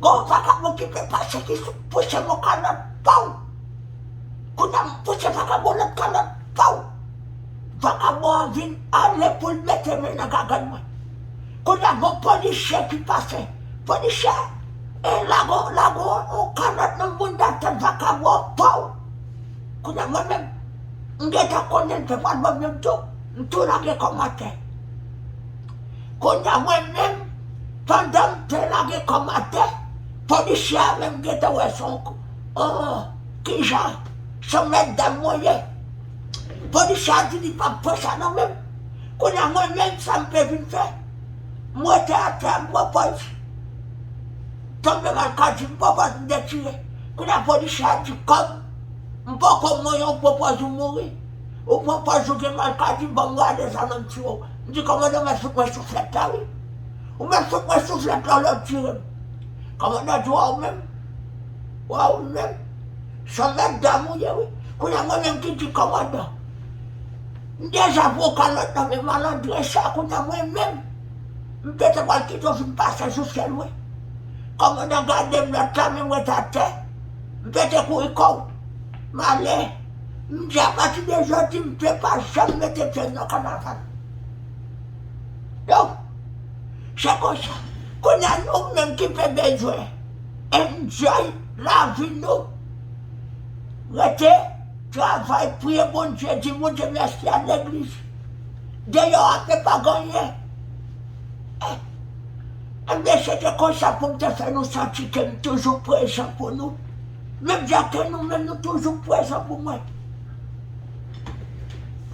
Gon vagabon ki te pase ki sot pouse mo kalòt paw kounya m pouse vagabon lòt kalòt paw vagabon an vin ale poul mete men nan gagòt mwen kounya gon polisye ki pase polisye e lago lago on kalòt nan mouda tèt vagabon an paw kounya mwen menm m gentan konnen l te pral banm youn tou m tou lage kòmantè. Kounya mwen menm pandan m te lage kòmantè polisye a menm gentan wè son oh kijan son mètdam mwen ye polisye a di li pap pran sa nan menm kounya mwen menm sa m te vin fè m rete atè a m pran pòz tonbe mal kadi m pran pòz m detire kounya polisye a di kòm m poko mouri ou pran pòz ou mouri ou pran pòz ou gen mal kadi banm rale zam an m tire w. M di kòmandan mèt fout mwen souflèt la wi. Ou mèt fout mwen souflèt la ou lè ou tire m. Kòmandan di wa ou menm, wa ou menm. Son mèt dam ou ye wi. Kounya mwen menm ki di kòmandan. M deja pran kalòt nan men malandren sa kounya mwen menm. M te te pral kite w fin pase sou sèl mwen. Kòmandan gade m lòt la men mwen t atè. M pete kouri kò w. M ale. M di apati de jodi m pe pa janm mete pye m nan kanaval. Donk, se konsa. Kounye a nou menm ki pe bezwen enjoy lavi nou, rete, travay, priye Bondye, di Bondye mèsi, al legliz. Deyò a pe pa gen anyen. E, enben se te konsa pou m te fè nou santi ke m toujou prezan pou nou. Menm jan ke nou menm nou toujou prezan pou mwen.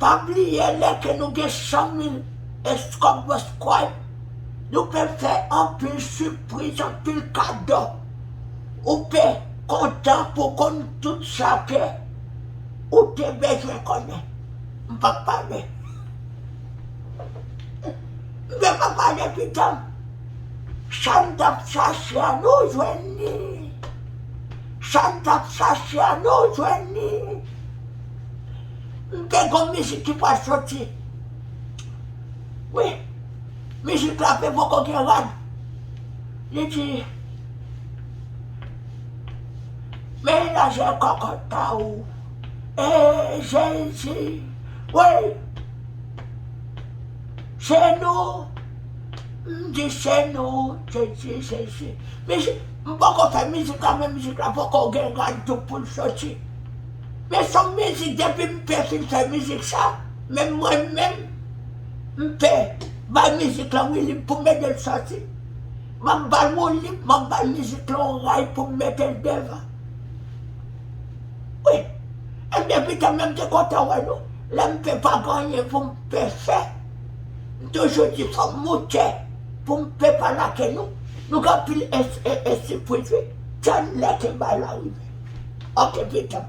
Pa bliye lè ke nou gen 100 mil escoboscribe nou pe fè anpil sipriz anpil kado ou pe kontan pou konn tout sa ke ou te bezwen konnen m pap pale m pap pale pitanm. Sam tap chache a nou jwenn li Sam tap chache a nou jwenn li M te gon mizik ki pral soti Wi Mizik la te poko gen rad Li di Men lajè kòkòt pa ou Eey Jezi Woy Se nou M dechène w sesi sesi Mizik m poko fè mizik la men mizik la poko gen gad tou poul soti Men son mizik depi m te fin fè mizik sa menm mwen menm m te bay mizik lan wilib pou m ede l soti Map bal wilib map bay mizik lan on ray pou m mete l devan Wi Ebyen pitan menm te kontan wè nou lè m te pa gen anyen pou m te fè. M toujou di fòm moute poum pe pa lake nou. Nou gen anpil ensi pou jwe tann lè te bay la rive ok vitan.